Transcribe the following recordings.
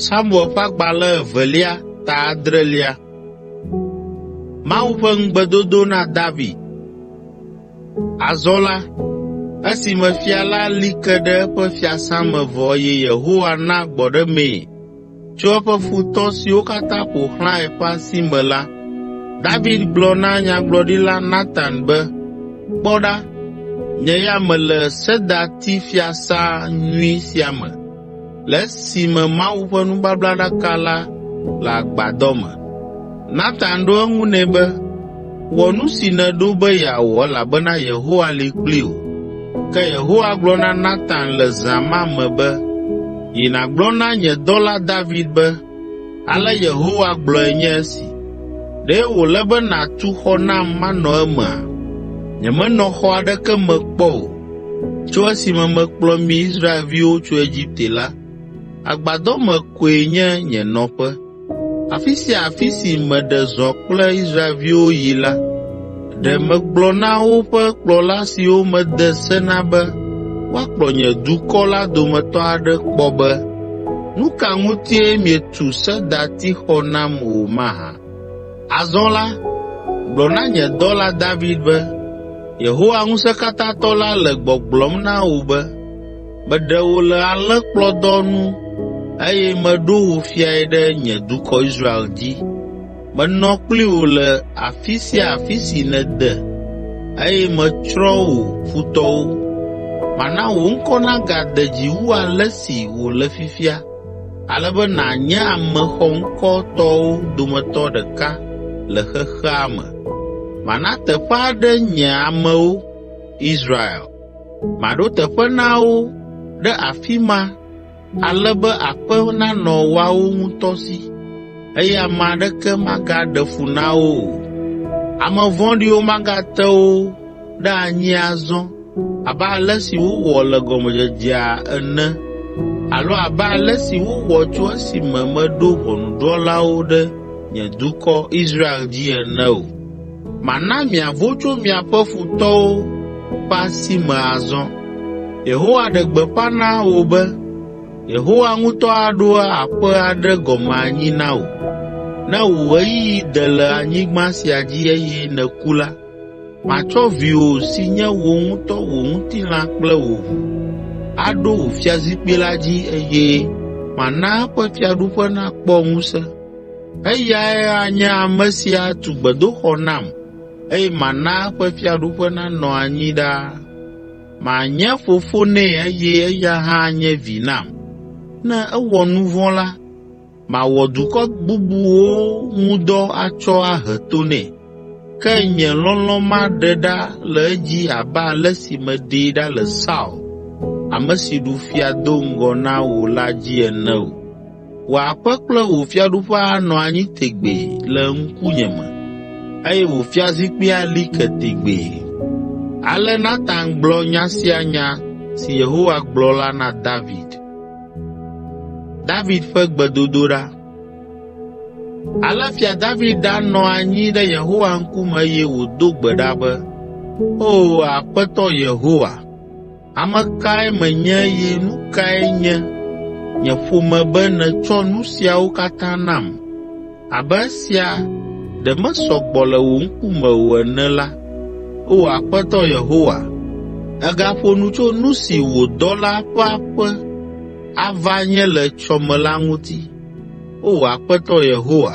Samuel ƒe agbalẽ evelia ta adrelia. Mawu ƒe ŋugbedodo na David. Azɔ la, esime fia la li ke ɖe eƒe fiasã me vɔ eye Yehowa na gbɔɖemee Tso eƒe futɔ siwo katã ƒo xlãe ƒe asi me la, David gblɔ na Nyagblɔɖila Natan be, “Kpɔ ɖa, nye ya mele sedati fiasã nyui sia me, le esime Mawu ƒe nubablaɖaka la le agbadɔ me.” Natan ɖo eŋu nɛ be, Wɔ nu si nèɖo be yeawɔ elabena Yehowa li kpli wò.” Ke Yehowa gblɔ na Natan le zã ma me be, “Yi nàgblɔ na nye dɔla David be, ‘Ale Yehowa gblɔe nye esi, Ɖe wòle be nàtu xɔ nam manɔ emea? Nyemenɔ xɔ aɖeke me kpɔ o tso esime mekplɔ mi Israelviwo tso Egipte la. Agbadɔ me koe nye nye nɔƒe. Afi sia afi si meɖe zɔ kple Israelviwo yi la, ɖe megblɔ na woƒe kplɔla siwo mede se na be woakplɔ nye dukɔ la dometɔ aɖe kpɔ be, “Nu ka ŋutie mietu sedatixɔ nam o mahã?” ’ Azɔ la, gblɔ na nye dɔla David be, ‘Yehowa Ŋusẽkatãtɔ la le gbɔgblɔm na wò be, Meɖe wò le alẽkplɔdɔ nu eye meɖo wò fiae ɖe nye dukɔ Israel dzi. Menɔ kpli wò le afi sia afi si nède eye metsrɔ̃ wò futɔwo. Mana wò ŋkɔ nagade dzi wu ale si wòle fifia ale be nànye ame xɔŋkɔtɔwo dometɔ ɖeka le xexea me. Mana teƒe aɖe nye amewo, Israel, Maɖo teƒe na wo ɖe afi ma ale be aƒe nanɔ woawo ŋutɔ si eye ame aɖeke magaɖe fu na wo o. Ame vɔ̃ɖiwo magate wo ɖe anyi azɔ abe ale si wowɔ le gɔmedzedzea ene alo abe ale si wowɔ tso esime meɖo ʋɔnudrɔ̃lawo ɖe nye dukɔ, Israel dzi ene o. Mana miavo tso miaƒe futɔwo ƒe asi me azɔ. Yehowa ɖe gbeƒã na wò be, Yehowa ŋutɔ aɖo aƒe aɖe gɔme anyi na wò. Ne wò ɣeyiɣi de le anyigba sia dzi eye nèku la, matsɔ viwò si nye wò ŋutɔ wò ŋutilã kple wò ʋu, aɖo wò fiazikpui la dzi eye mana eƒe fiaɖuƒe nakpɔ ŋusẽ. Eyae anye ame si atu gbedoxɔ nam eye mana eƒe fiaɖuƒe nanɔ anyi ɖaa. Manye fofo nɛ eye eya hã anye vi nam. Ne ewɔ nu vɔ̃ la, mawɔ dukɔ bubuwo ŋu dɔ atsɔ ahe to nɛ, ke nye lɔlɔ̃ maɖe ɖa le edzi abe ale si meɖee ɖa le Saul, ame si ɖu fia do ŋgɔ na wò la dzi ene o.” Wò aƒe kple wò fiaɖuƒe anɔ anyi tegbee le ŋkunye me eye wò fiazikpui ali ke tegbee.” Ale Natan gblɔ nya sia nya si Yehowa gblɔ la na David. Ale Fia David ɖanɔ anyi ɖe Yehowa ŋkume eye wòdo gbe ɖa be, “Oo, Aƒetɔ Yehowa, Ame kae menye eye nu kae nye nye ƒome be nètsɔ nu siawo katã nam? Abe esia ɖe mesɔ gbɔ le wò ŋkume o ene la, Oo Aƒetɔ Yehowa, ègaƒo nu tso nu si wò dɔla ƒe aƒe ava nye le etsɔ me la ŋuti. Oo Aƒetɔ Yehowa,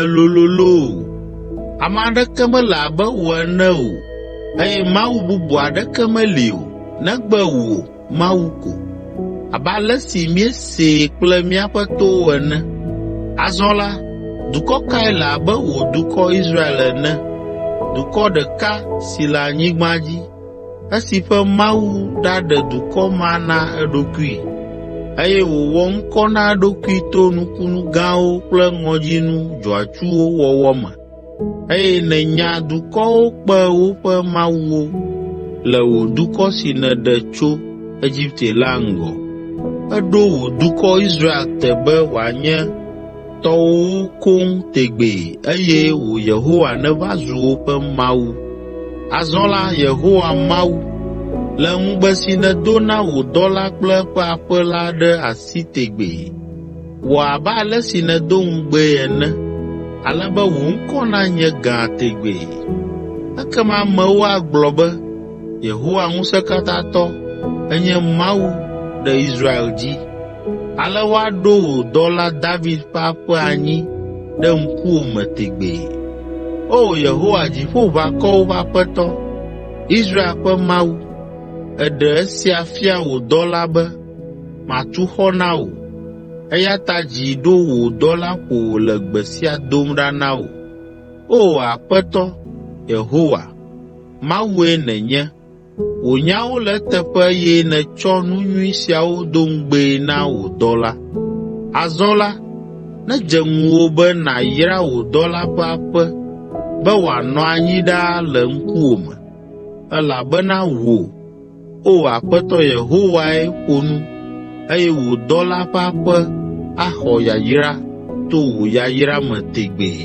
Èlolo loo! Ame aɖeke mele abe wò ene o eye mawu bubu aɖeke meli o negbe wò, Mawu ko, abe ale si míesee kple míaƒe towo ene. Azɔ la, dukɔ kae le abe wò dukɔ Israel ene, dukɔ ɖeka si le anyigba dzi esi ƒe Mawu ɖaɖe dukɔ ma na eɖokui eye wòwɔ ŋkɔ na eɖokui to nukunu gãwo kple ŋɔdzinu dzɔatsuwo wɔwɔ me eye nènya dukɔwo kpe woƒe mawuwo le wò dukɔ si nèɖe tso Egipte la ŋgɔ. Èɖo wò dukɔ Israel te be wòanye tɔwo koŋ tegbee eye wò Yehowa nèva zu woƒe Mawu. Azɔ la, Yehowa Mawu, le ŋugbe si nèdo na wò dɔla kple eƒe aƒe la ɖe asi tegbee. Wɔ abe ale si nèdo ŋugbee ene, ale be wò ŋkɔ nanye gã tegbee.” Ekema amewo agblɔ be, “Yehowa Ŋusẽkatãtɔ enye Mawu ɖe Israel dzi!” Ale woaɖo wò dɔla David ƒe aƒe anyi ɖe ŋkuwò me tegbee. O Yehowa, Dziƒoʋakɔwo ƒe Aƒetɔ, Israel ƒe Mawu, èɖe esia fia wò dɔla be matu xɔ na wò. Eya ta dzi ɖo wò dɔla ƒo wòle gbe sia dom ɖa na wò. O Aƒetɔ Yehowa, Mawue nènye Wò nyawo le eteƒe eye nètsɔ nu nyui siawo do ŋugbee na wò dɔla. Azɔ la, nedze ŋuwò be nàyra wò dɔla ƒe aƒe be wòanɔ anyi ɖaa le ŋkuwòme, elabena wò, O Aƒetɔ Yehowae ƒo nu eye wò dɔla ƒe aƒe axɔ yayra to wò yayra me tegbee.”